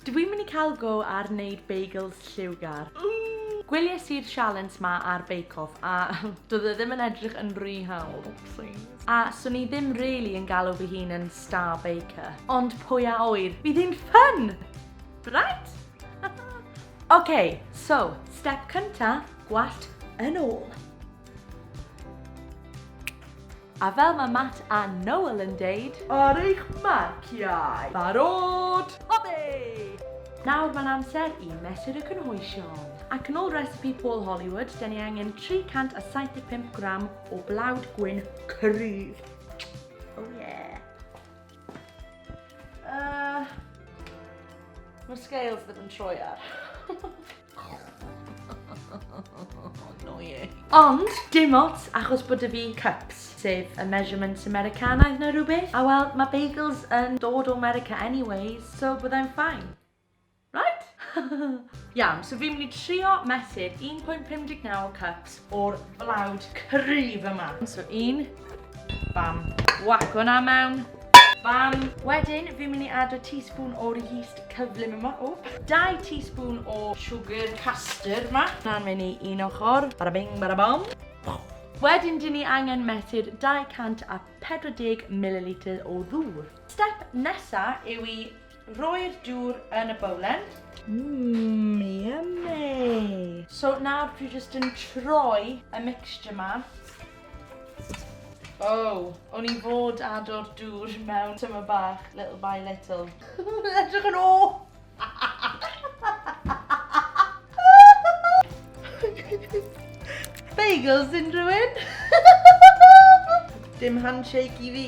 Dw i'n mynd i cael go ar wneud bagels lliwgar. Gwelies i'r sialens 'ma ar Bake Off a doedd e ddim yn edrych yn rhy hawdd, wpsîs. A 'swn i ddim rili yn galw fy hun yn star baker. Ond pwy a ŵyr, bydd hi'n ffyn! Right? Ok, so, step cynta, gwallt yn ôl. A fel mae Matt a Noel yn deud. Ar eich marciau! Barod! Oddi! Nawr mae'n amser i Mesur y Cynhwysion. Ac yn ôl recipe Paul Hollywood, dyn ni angen 375 gram o blawd gwyn cryf. Oh yeah. Uh, Mae scales ddim yn troi ar. Ond, dim ots, achos bod 'da fi cups, sef y measurements Americanaidd neu rhywbeth. A wel, mae bagels yn dod o America anyways, so byddai'n fine. Right? Iawn, so fi'n mynd i trio mesur 1.59 cups o'r blawd cryf yma. So un, bam, whack hwnna mewn, bam. Wedyn, fi'n mynd i add y teaspoon o'r yeast cyflym yma, o. Dau teaspoon o sugar custard yma. Na'n mynd i un ochr, bada bing, bada bom. Wedyn, dyn ni angen mesur 240 millilitr o ddŵr. Step nesa yw i Rhoi'r dŵr yn y bowlen. Mmm, yummy! So nawr dwi jyst yn troi y mixture ma. Oh, o'n i fod ado'r dŵr mewn tyma bach, little by little. Edrych yn o! Bagels unrhywun? Dim handshake i fi.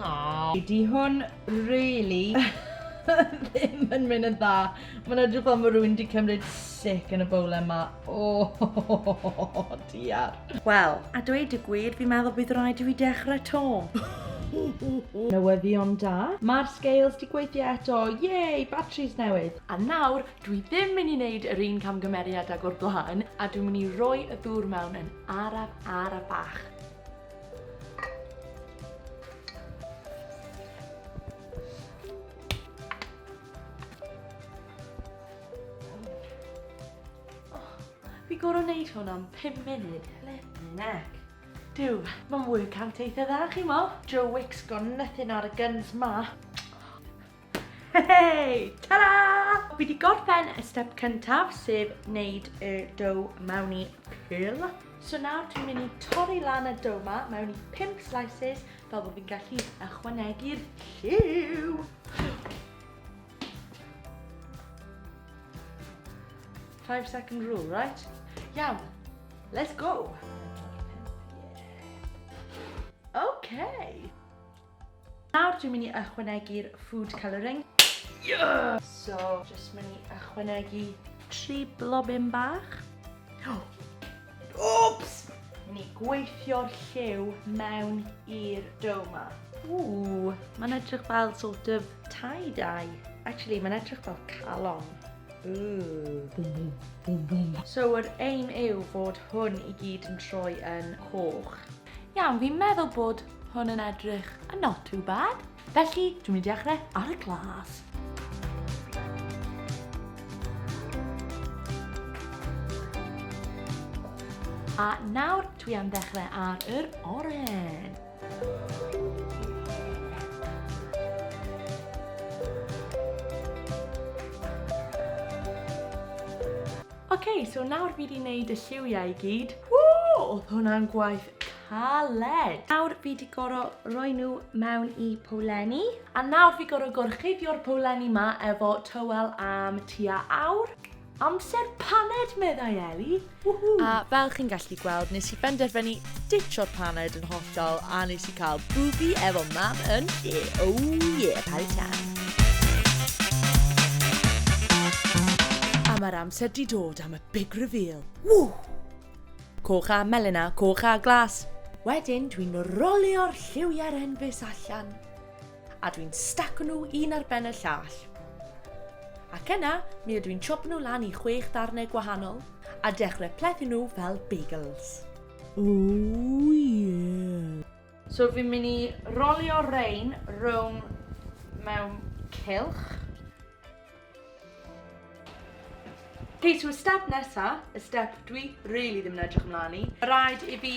Aww. Di hwn really ddim yn mynd yn dda. Mae'n edrych fel mae rhywun wedi cymryd sic yn y bowl yma. O, oh, diar. Wel, a dweud y gwir, fi'n meddwl bydd rhaid i fi dechrau to. Newyddion da. Mae'r scales di gweithio eto. Yay, batteries newydd. A nawr, dwi ddim mynd i wneud yr un camgymeriad ag o'r blaen, a dwi'n mynd i roi y ddŵr mewn yn araf araf bach. Fi gorau wneud hwn am 5 munud, let me neck. Dyw, mae'n workout eitha dda chi mo. Joe Wicks got nothing ar y guns ma. Hei! Ta-da! Fi wedi gorffen y step cyntaf, sef wneud y dough mewn i pil. So nawr dwi'n mynd i torri lan y dough ma mewn i 5 slices fel bod fi'n gallu ychwanegu'r lliw. Five second rule, right? Iawn, let's go! Okay. Nawr dwi'n mynd i ychwanegu'r food colouring. Yeah! So, jyst mynd i ychwanegu tri blobyn bach. Oops! Mynd i gweithio'r lliw mewn i'r dough ma. Ooh, mae'n edrych fel sort of tie-dye. Actually, mae'n edrych fel calon. So yr aim yw fod hwn i gyd yn troi yn coch. Iawn, fi'n meddwl bod hwn yn edrych yn not too bad. Felly, dwi'n mynd i dechrau ar y glas. A nawr dwi am ddechrau ar yr oren. Ok, so nawr fi di neud y lliwiau i gyd. Woo! Oedd hwnna'n gwaith caled. Nawr fi di goro roi nhw mewn i powlenni. A nawr fi goro gorchuddio'r powlenni ma efo tywel am tua awr. Amser paned, meddai Ellie. Woohoo! A fel chi'n gallu gweld, nes i benderfynu Ditcho'r paned yn hollol a nes i cael bwfi efo mam yn lle. Oh yeah, party time. A mae'r amser di dod am y big reveal. Ww! Coch a melyn a coch a glas. Wedyn dwi'n rolio'r lliwiau'r enfys allan. A dwi'n staco nhw un ar ben y llall. Ac yna, mi ydw i'n chopo nhw lan i chwech ddarnau gwahanol a dechrau plethu nhw fel bagels. Oh yeah! So fi'n mynd i rolio rein rown mewn cylch. Ok, so y step nesa, y step dwi really ddim yn edrych ymlaen i, rhaid i fi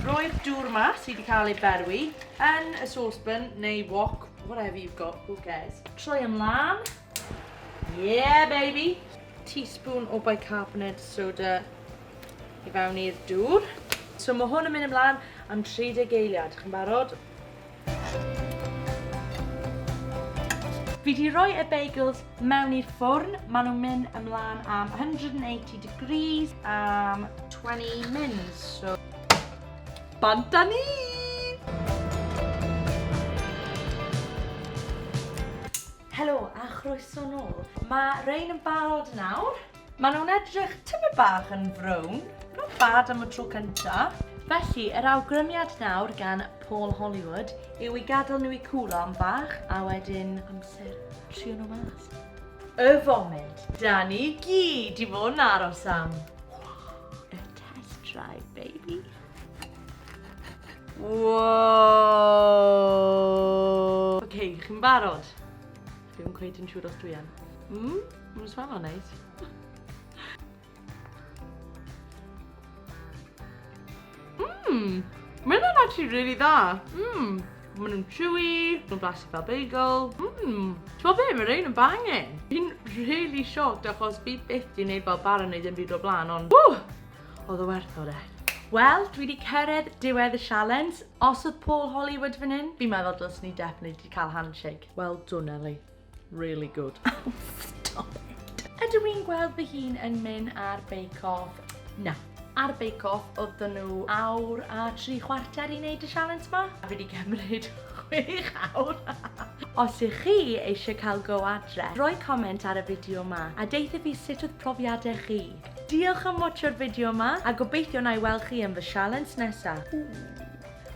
roi'r dŵr yma sydd wedi cael ei berwi yn y saucepan neu wok, whatever you've got, who cares. Troi ymlaen. Yeah, baby! teaspoon o bicarbonate soda i fewn i'r dŵr. So mae hwn yn mynd ymlaen am 30 geiliad. Chi'n barod? Fi 'di roi y bagels mewn i'r ffwrn, maen nhw'n mynd ymlaen am 180 degrees am 20 mins, so... Bant â ni! Helo a chroeso nôl. Mae rhein yn barod nawr. Maen nhw'n edrych tymed bach yn frown. Not bad am y tro cyntaf. Felly, yr awgrymiad nawr gan Paul Hollywood yw i gadael nhw i cwlo am bach a wedyn amser trio nhw mas. Y foment da ni gyd di fod yn aros am. A test drive, baby. Wow! Ok, chi'n barod? Dwi'm cweit yn siŵr os dwi yn. Mmm, mae'n swano'n neis. Mmm, mae'n nhw'n actually really dda. Mmm, mae'n nhw'n chewy, nhw'n blasu fel bagel. Mmm, ti'n be, mae'n rhain yn bangin. Fi'n really shocked achos fi byth di wneud fel bar yn neud yn byd o blaen, ond... Ww! Oedd o werth o de. Wel, dwi wedi cyrraedd diwedd y sialens. Os oedd Paul Hollywood fan hyn, fi'n meddwl dylswn ni definitely cael handshake. Well done, Ellie. Really good. Oh, stop it. Ydw i'n gweld fy hun yn mynd ar Bake Off? Na. Ar Bake Off, oedd nhw awr a tri chwarter i wneud y challenge ma. A fi wedi cymryd chwech awr. Os ych chi eisiau cael go adre, rhoi comment ar y fideo ma a deitha fi sut oedd profiadau chi. Diolch am watcho'r fideo ma a gobeithio na i weld chi yn fy challenge nesaf. Ooh.